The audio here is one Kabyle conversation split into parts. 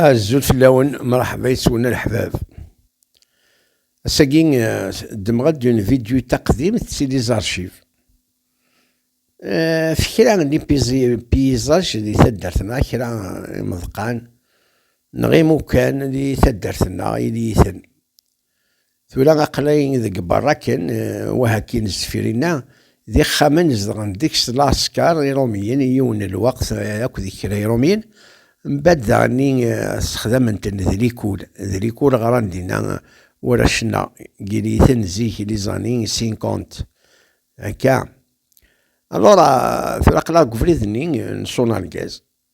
Azul fell-awen, mṛeḥba yes-wen a leḥbab. Ass-agi ddmeɣ-d une vidéo taqdimt si les archives. F kra n paysages di taddart-nneɣ, kra imeḍqan neɣ imukan di taddart-nneɣ ili-iten. Tura aqlay deg berra kan, wahakin zfir-inna, d ixxamen zedɣen deg-s lɛesker iṛumiyen i yiwen n lweqt akked kra iṛumiyen, mbad daɣenni ssexdamen-ten d likul, d likul ɣran dinna warrac-nneɣ, gin-iten zik les années cinquante, akka. Alors, tura aqlaɣ deg ubrid-nni n Sonargaz.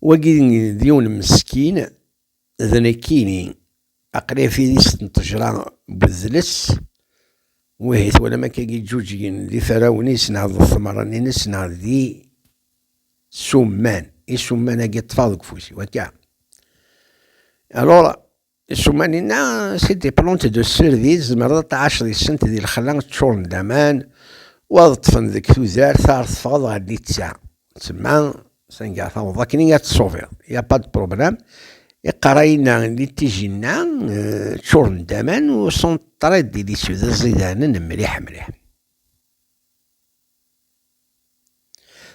Wagi d yiwen meskin d nekkini. Aql-i ɣef idis n ṭejra n udles. Wihi twalam akka i yeǧǧuǧgen d iferrawen-is neɣ d tmeṛṛanin-is neɣ d isumman. Isumman-agi ṭṭfeɣ deg ufus-iw akka. Alors, Isuman-inna, si des plantes de cerisier, tzemreḍ ad tɛaceḍ yes-sent di lexla, ččuren d aman, u ad ṭṭfen deg tudert, ar teffɣeḍ ɣer litta. Tsemma, sanga taweḍ akken i ad tṣubiḍ, il n'y a pas de problème. Iqerra-inna, litij-inna, ččuren d aman u sont très délicieux, d iẓidanen mliḥ mliḥ.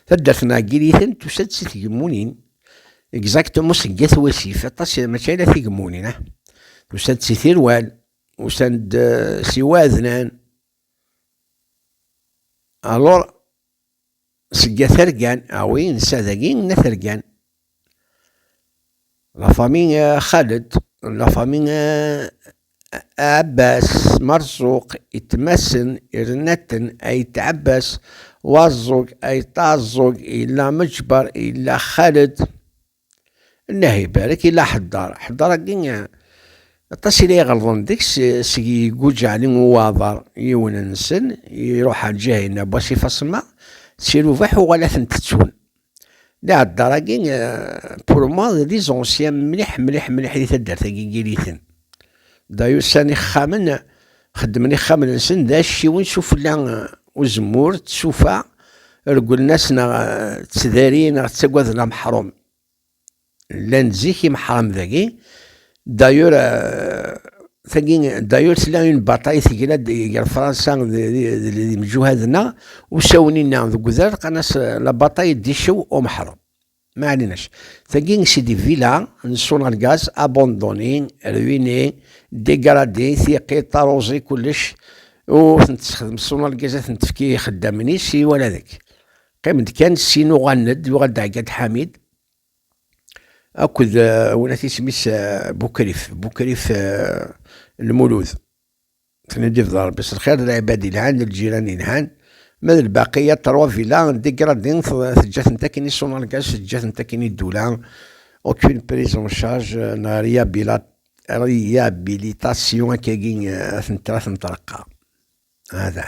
Taddart n Ɛeggiriten tusa-d si tgemmunin, exactement seg At Wasif, aṭas mačči ala tigemmunin, ah. Tusa-d si Tirwal, usan-d eh, si Waɛednan, alors seg At Ergan, ah oui, nessa dagi n At Ergan, La famille Khaled, la famille Abbas Marzouk, itmassen, irnaten, Ait Abbas, Wazouk, Ait Azouk, ila Mejbar, ila Khaled. Allah ibarek, ila Ḥeddar. Ḥeddar-agi, aṭas ila iɣelḍen deg-s, seg yegguǧ Ɛli Uwaḍar, yiwen-nsen, iruḥ ar Ǧahina, Bwasif Asemmaɣ, si Rubaḥ uɣal ad ten-ttettun. D iɛeddar-agi pour moi d des anciens mliḥ mliḥ mliḥ di taddart-agi n Yiriten. Da yusan ixxamen, xeddmen ixxamen-nsen d acciwen s ufella uzemmur d tsufa, regglen-as neɣ ttdarin neɣ ttagaden ameḥrum. Llan-d zik imeḥram dagi. Dayur, tagi, dayur tella une bataille tegla-d gar Fransa d yimjuhaden-a, usawen-inna deg udrar qqan-as la bataille d'Ichew au Meḥrem. Ma ɛlinac, tagi c'est des villas n Sonalgaz abandonnées, ruinées, dégradées, tiqit, taruẓi, kullec ur tent-tessexdem Sonalgaz ad tent-tefk i ixeddamen-is i wala deg. Qqim-d kan ssin uɣalen-d, yuɣal-d Ɛeggad Ḥamid akked eh, win at isem-is eh, Bukrif, Bukrif eh, Lmulud. Tnedif d Rebbi s lxir, d lɛibad ilhan, d ljiran ilhan, ma d lbaqiya ṭerwa vila, degradin, teǧǧa-tent akken i sunalgas, teǧǧa-tent akken i ddula, aucune prise en charge, neɣ réhabilitation akkagi ad tent-tra tenṭerqa. Hada.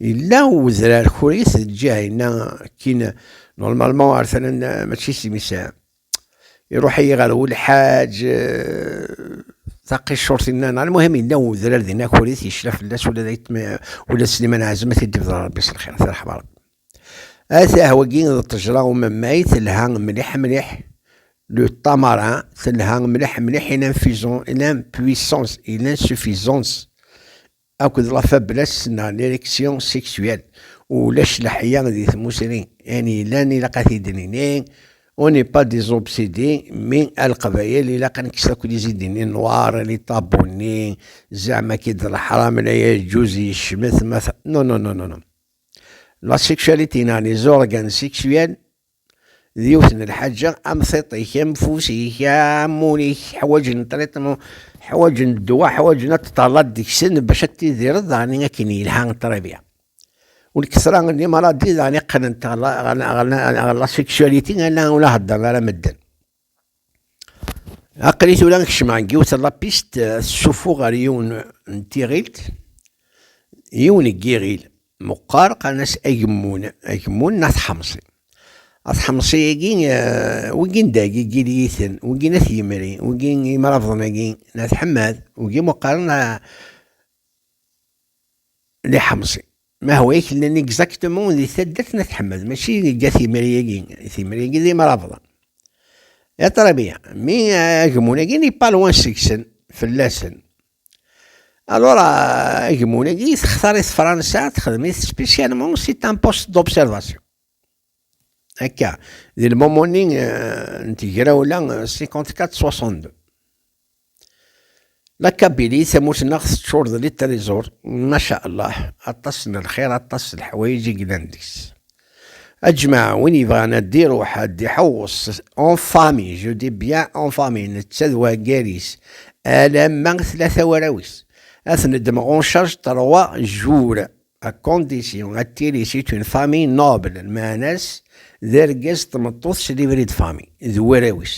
Yella udrar kurit lǧiha-inna kkin normalement ar tala mačči s imisa. Iruḥ-iyi ɣer wul ḥaǧ taqicurt-inna neɣ lmuhim yella udrar dinna kurit yecla fell-as ula d ayetma ula d Sliman Ɛazem ad t-id-ibder Rebbi s lxir tirḥem Rebbi. Atah wagi d ṭejra umemmay telha mliḥ mliḥ le tamarin telha mliḥ mliḥ il a une fusion il a une puissance il a une suffisance akked la faiblesse n n erection sexuelle, ulac leḥya di tmusni, ayen yellan ilaq ad t-id-nini, on n'est pas des obsédés, mais a leqbayel ilaq ad nekkes akk lizidi-nni noir, les tabous-nni, zeɛma akka i d leḥram, la yeǧǧuz, yecmet, ma non, non, non, non, non. La sexualité n n les organes sexuels d yiwet n lḥaǧa am tiṭ-ik am fus-ik am ul-ik ḥwaǧen triṭmu ḥwaǧen ddwa ḥwaǧen ad teṭṭalaḍ deg-sen bac ad tidireḍ daɣen akken yelha ṭribya ur kesra n imaradi daɣen iqqnen ɣer la sexualité ala ur la heddren ara medden Aql-i tura kecmeɣ deg yiwet n lapist tessufu ɣer yiwen n tiɣilt, yiwen n yiɣil meqqar qqaren-as agemmun, agemmun neɣ teḥmeṣi. Ateḥmeṣi-agi wigin deg igiliyiten, wigin at yimri, wigin imrabḍen-agi n at ḥemmad, wigi meqqaren liḥmeṣi. Ma hwa i kellen exactement di taddart n At Ḥmed, mačči deg At Yemri-agi, At Yemri-agi d imrabḍa. Ya ṭrabia, mi agemmun-agi ni pas loin seg-sen, fell-asen. Alors, agemmun-agi textar-it Fransa, texdem-it spécialement, c'est un poste d'observation. Akka, di lmumuni eh, n tegrawla 54-62. Eh, La Kabili, tamurt-nneɣ teččur d litrizur, maca Allah, aṭas n lxir, aṭas n leḥwayeǧ i yellan deg-s. Aǧmaɛ, win yebɣan ad d-iruḥ, ad d-iḥewweṣ, en famille, je dis bien en famille, netta d waggar-is, alamma tlata warraw-is. Ad ten-ddmeɣ en charge trois jours, Akondisyon, attili si tun fami nobel, lmeɛna-s d argaz d tmeṭṭut s libri d fami, d warraw-is.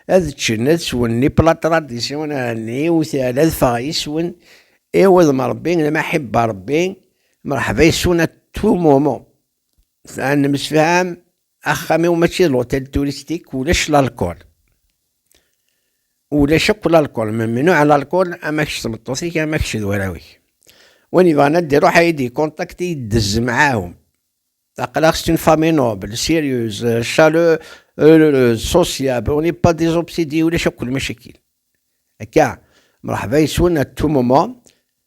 Ad ččen, ad swen, ni pla tradisyon ɛni u tɛla d faɣ yis-wen, i wudem Ṛebbi, lmaḥibba Ṛebbi, mṛeḥba yis-wen a tumumu. Sɛan nemsefham axxam-iw mačči d l'hôtel touristique ulac l'alcool. Ulac akk l'alcool, memnuɛ l'alcool ama kečč d tmeṭṭut-ik ama kečč d warraw-ik. Win yebɣan ad d-iruḥ ad yi-d-icontact ad yi-d-dez mɛahum. Aql-aɣ c'est une famille noble, sérieuse, chaleureuse, sociable, on n'est pas des obsédés ulac akk lmacakil. Akka, mreḥba yes-wen à tout moment,